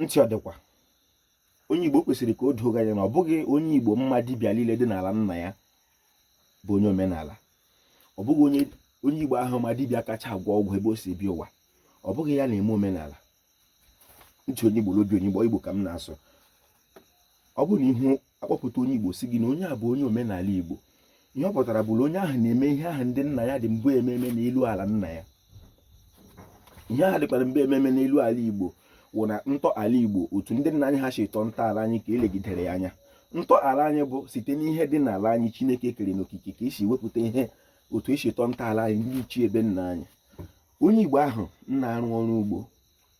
ntị ọ dịkwa onye igbo o kwesịrị ka o doo gị anya na ọ bụghị onye igbo ma dibịa niile dị n'ala nna ya bụ onye omenala ọ bụghị onye igbo ahụ ma dibịa kacha agwọ ọgwụ ebe o si bịa ụwa ọ bụghị ya na-eme omenala ntị onye igbo n'obi onye igbo igbo ka m na-asụ ọ bụrụ na ị hụ a kpọpụta onye Igbo sị gị na onye a bụ onye omenala Igbo ihe ọ pụtara bụ na onye ahụ na-eme ihe ahụ ndị nna ya dị mbụ eme eme n'elu ala nna ya ihe ahụ dịkwara mbụ eme eme n'elu ala Igbo wụ na ntọala Igbo otu ndị nna anyị ha si tọọ ntọala anyị ka e legidere ya anya ntọala anyị bụ site n'ihe dị n'ala anyị Chineke kere n'okike ka e si wepụta ihe otu e si tọọ ntọala anyị ndị ichie ebe nna anyị onye Igbo ahụ na-arụ ọrụ ugbo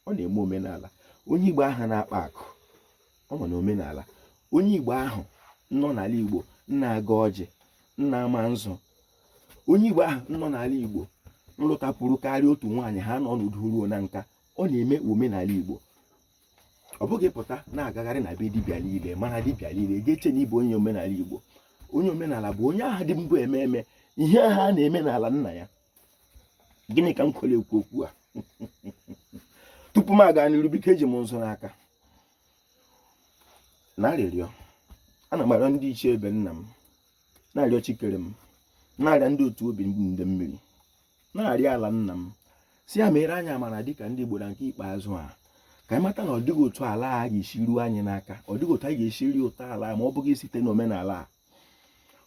ọ na-eme omenala onye Igbo ahụ na-akpa akụ ọ nọ n'omenala onye igbo ahụ nọ n'ala igbo na-agọ ọjị na-ama nzu onye igbo ahụ nọ n'ala igbo lụtapụrụ karịa otu nwaanyị ha nọ n'udo ruo na nka ọ na-eme omenala igbo ọ bụghị ị pụta na-agagharị na be dibịa niile mara dibịa niile gị echee na ị bụ onye omenala igbo onye omenala bụ onye ahụ dị mbụ eme eme ihe ahụ a na-eme n'ala nna ya gịnị ka m kwere ekwu okwu a tupu m aga n'iru biko eji m nzu n'aka na arịrịọ ana m arịọ ndị ichie ebe nna m na-arịọ chi kere m na-arịọ ndị otu obi ndị mmiri na-arịọ ala nna m sị ya meere anyị amara dịka ndị Igbo na nke ikpeazụ a ka anyị mata na ọ dịghị otu ala a ga-esi ruo anyị n'aka ọ dịghị otu anyị ga-esi rie ụtọ ala ma ọ bụghị site n'omenala a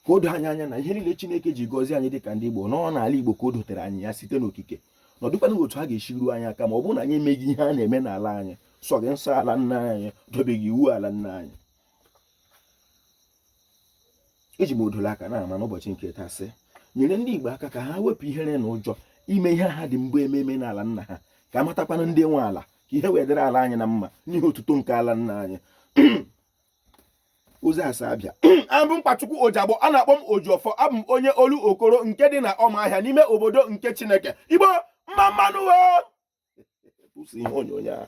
ka o doo anyị anya na ihe niile Chineke ji gọzie anyị dịka ndị Igbo nọ n'ala Igbo ka o dotere anyị ya site n'okike na ọ dịkwana otu ha ga-esi ruo anyị aka ma ọ bụrụ na anyị emeghị ihe a na-eme n'ala anyị sọghị nsọ ala nna anyị dobeghị iwu ala nna anyị eji m odo n'aka na-ama n'ụbọchị nke taa sị nyere ndị Igbo aka ka ha wepụ ihere na ụjọ ime ihe ha dị mbụ eme eme n'ala nna ha ka a matakwana ndị nwe ala ka ihe wee dịrị ala anyị na mma n'ihi otuto nke ala nna anyị ozi asa abịa abụ m nkwachukwu ojagbo a na-akpọ m ojiọfọ abụ m onye olokoro nke dị na ọmahịa n'ime obodo nke chineke igbo mma mma nụ ihe onyonyo a